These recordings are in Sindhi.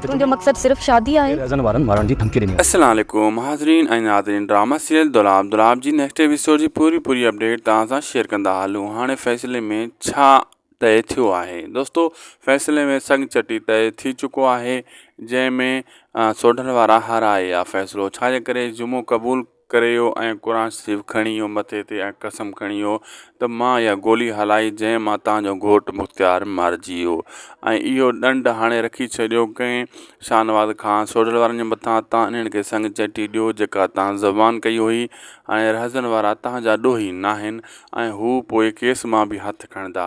تنهنجو مقصد صرف شادي آهي. السلام عليڪم حاضرين ۽ ناظرين ڊرامه سيريل دولاب دولاب جي نيڪسٽ ايپيسوڊ جي پوري پوري اپڊيٽ توهان سان شيئر ڪندا هلون هاڻي فيصلي ۾ ڇا طئي ٿيو آهي دوستو فيصلي ۾ سڱ چٽي طئي ٿي چڪو آهي جنهن ۾ سوڍل وارا هارائي آ فيصلو ڇا جي ڪري جمعو قبول ڪريو ۽ قرآن شريف کڻي اهو مٿي تي ۽ قسم کڻي اهو ته مان اها گولي هلائي جنهن مان توهان جو گهوٽ مختيار مارجي ويو ۽ اهو ڏنڊ هاڻي رکي ڇڏيو ڪنهن شاهنواز خان سوڍل وارن جي مٿان تان انهن کي سڱ چٽي ڏيو جيڪا توهان زبان ڪئي هئي هاڻي رهزن وارا توهان جا ڏوهي ناهن ۽ هو پوء ڪيس مان به هٿ کڻندا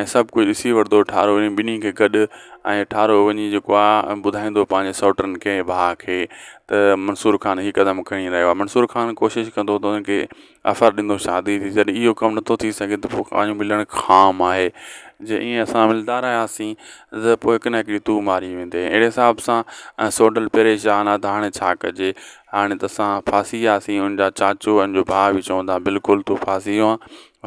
۽ سڀ ڪجهه ڏسي وٺندو ٺارو انهن ٻنهي کي گڏ ۽ ٺارو وڃي جيڪو آ ٻڌائيندو پنهنجي سئوٽن کي ۽ ڀاء کي ته منصور خان هي قدم کڻي رهيو آ منصور خان ڪوشش ڪندو ته ان کي آفر ڏيندو شادي جي جڏهن اهو ڪم نٿو ٿي سگهي ته پوء ڪانجو ملڻ خام آهي جي ائين اسان ملندا رهياسين ته پوء هڪ نه هڪ ڏينهن تون ماري ويندي اهڙي حساب سان سئوٽل پريشان آ ته هاڻي ڇا ڪجي هاڻي ته اسان ڦاسي وياسين ان جا چاچو ان جو ڀاء به چوندا بلڪل تون ڦاسي ويو آ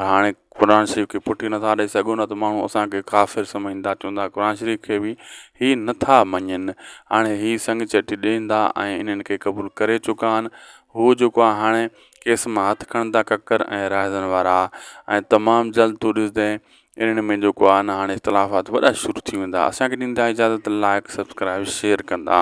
هاڻي قرآن شريف کي ڦٽي نٿا ڏئي سگهو نه ته ماڻهو اسانکي ڪافر سمجهندا چوندا قرآن شريف کي به هي نٿا مڃين هاڻي هي سنگ چٽي ڏيندا ۽ انهن کي قبول ڪري چڪا آهن هو جيڪو آهي هاڻي ڪيس مان هٿ کڻندا ڪڪر ۽ راهزن وارا ۽ تمام جلد تون ڏسندين انهن ۾ جيڪو آهي نه هاڻي اختلافات وڏا شروع ٿي ويندا اسانکي ڏيندا اجازت لائق سبسڪرائب شيئر ڪندا